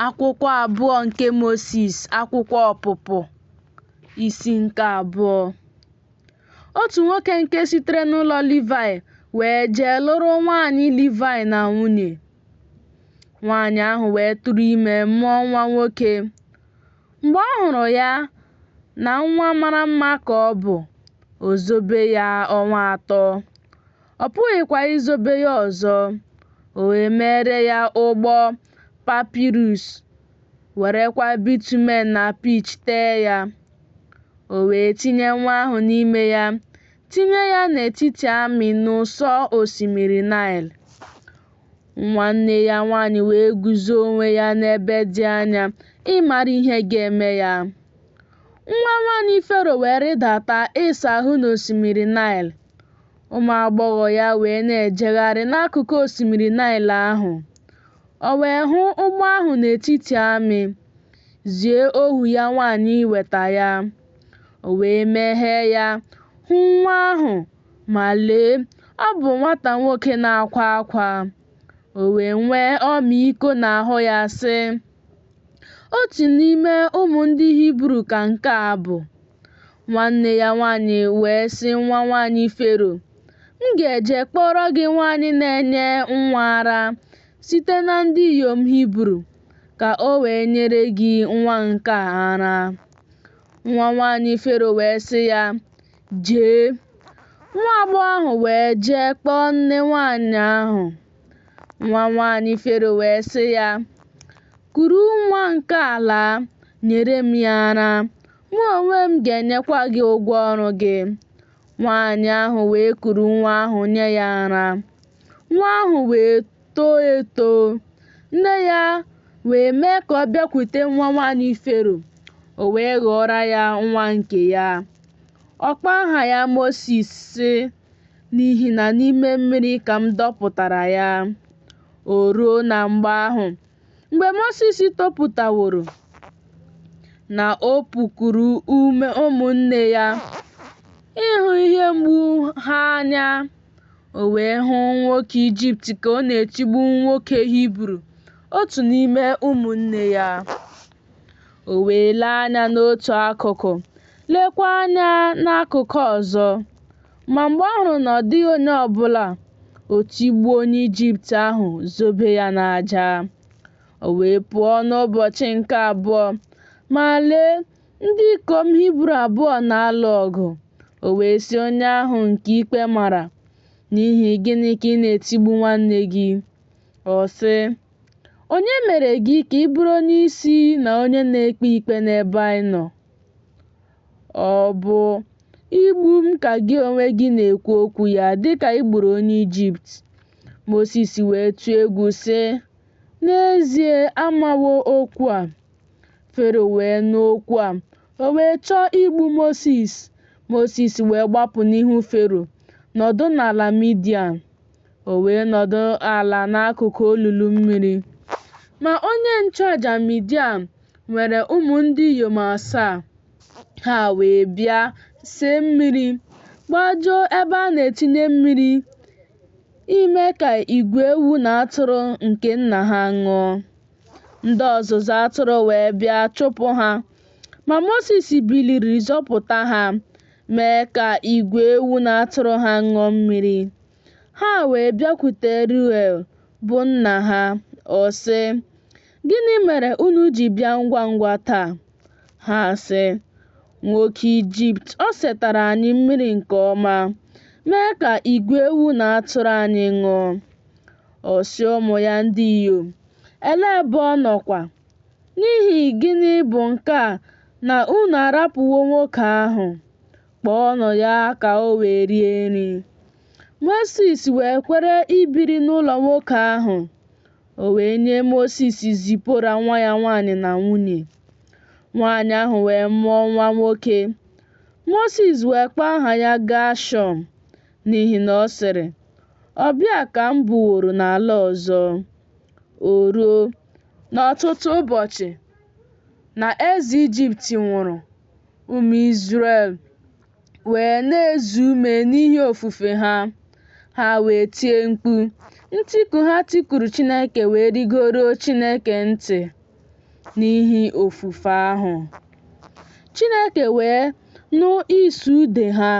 Akwụkwọ abụọ nke Mosis, akwụkwọ Ọpụpụ, isi nke abụọ. Otu nwoke nke sitere n'ụlọ Livaị wee jee lụrụ nwaanyị Livaị na nwunye. Nwaanyị ahụ wee tụrụ ime mụọ nwa nwoke. Mgbe ọ hụrụ ya na nwa mara mma ka ọ bụ, o zobe ya ọnwa atọ. ọ pụghịkwa izobe ya ọzọ. O wee meere ya ụgbọ papirus, werekwa bitumen na pitch tee ya. O wee tinye nwa ahụ n'ime ya, tinye ya n'etiti amị n'ụsọ osimiri Naịl. Nwanne ya nwaanyị wee guzo onwe ya n'ebe dị anya ịmara ihe ga-eme ya. Nwa nwaanyị Fero wee rịdata ịsa ahụ n'osimiri Naịl. Ụmụ agbọghọ ya wee na-ejegharị n'akụkụ osimiri Naịl ahụ. O wee hụ ụgbọ ahụ n'etiti amị, zie ohu ya nwaanyị iweta ya. O wee meghee ya, hụ nwa ahụ, ma lee, ọ bụ nwata nwoke na-akwa akwa. O wee nwee ọmịiko n'ahụ ya, sị, Otu n'ime ụmụ ndị Hibru ka nke a bụ. Nwanne ya nwaanyị wee sị nwa nwaanyị Fero, M ga-eje kpọọrọ gị nwaanyị na-enye nwa ara site na ndị inyom Hibru, ka o wee nyere gị nwa nke a ara. Nwa nwaanyị Fero wee sị ya, Jee. Nwa agbọghọ ahụ wee jee kpọọ nne nwaanyị ahụ. Nwa nwaanyị Fero wee sị ya, Kuru nwa nke a laa, nyere m ya ara, mụ onwe m ga-enyekwa gị ụgwọ ọrụ gị. Nwaanyị ahụ wee kuru nwa ahụ nye ya ara. Nwa ahụ wee too eto. Nne ya wee mee ka ọ bịakwute nwa nwaanyị Fero, o wee ghọọrọ ya nwa nke ya. Ọ kpọọ aha ya Mosis, sị, n'ihi na n'ime mmiri ka m dọpụtara ya. O ruo na mgbe ahụ, mgbe Mosis topụtaworo, na o pukuru ume ụmụnne ya ịhụ ihe mgbu ha anya, o wee hụ nwoke Ijipt ka ọ na-etigbu nwoke Hibru, otu n'ime ụmụnne ya. O wee lee anya n'otu akụkụ, leekwa anya n'akụkụ ọzọ. Ma mgbe ọ hụrụ na ọ dịghị onye ọ bụla, o tigbuo onye Ijipt ahụ, zobe ya n'aja. O wee pụọ n'ụbọchị nke abụọ, ma lee, ndị ikom Hibru abụọ na-alụ ọgụ. O wee sị onye ahụ nke ikpe mara, N'ihi gịnị ka ị na-etigbu nwanne gị? Ọ sị, Onye mere gị ka ị bụrụ onye isi na onye na-ekpe ikpe n'ebe anyị nọ? Ọ bụ igbu m ka gị onwe gị na-ekwu okwu ya dịka i gburu onye Ijipt. Mosis wee tụọ egwu sị, N'ezie amawo okwu a. Fero wee nụ okwu a, o wee chọọ igbu Mosis. Mosis wee gbapụ n'ihu Fero, nọdụ n'ala Midian. O wee nọdụ ala n'akụkụ olulu mmiri. Ma onye nchụaja Midian nwere ụmụ ndị inyom asaa. Ha wee bịa see mmiri, gbajuo ebe a na-etinye mmiri ime ka igwe ewu na atụrụ nke nna ha ṅụọ. Ndị ọzụzụ atụrụ wee bịa chụpụ ha, ma Mosis biliri zọpụta ha. mee ka igwe ewu na atụrụ ha ṅụọ mmiri. Ha wee bịakwute Ruel bụ nna ha, ọ sị, Gịnị mere unu ji bịa ngwa ngwa taa? Ha sị, Nwoke Ijipt o setara anyị mmiri nke ọma, mee ka igwe ewu na atụrụ anyị ṅụọ. Ọ sị ụmụ ya ndị inyom, Elee ebe ọ nọkwa? N'ihi gịnị bụ nke a na unu arapụwo nwoke ahụ? Kpọọnụ ya ka o wee rie nri. Mosis wee kwere ibiri n'ụlọ nwoke ahụ. O wee nye Mosis Zipora nwa ya nwaanyị na nwunye. Nwaanyị ahụ wee mụọ nwa nwoke. Mosis wee kpọọ aha ya Gashọm n'ihi na ọ sịrị, Ọbịa ka m bụworo n'ala ọzọ. O ruo, n'ọtụtụ ụbọchị, na eze Ijipt nwụrụ, ụmụ Izrel wee na-ezu ume n'ihi ofufe ha. Ha wee tie mkpu. Ntiku ha tikuru Chineke wee rigoruo Chineke ntị n'ihi ofufe ahụ. Chineke wee nụ ịsụ ude ha,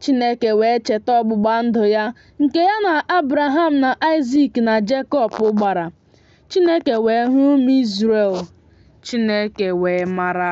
Chineke wee cheta ọgbụgba ndụ ya nke ya na Abraham na Aịzik na Jekọb gbara. Chineke wee hụ ụmụ Izrel. Chineke wee mara.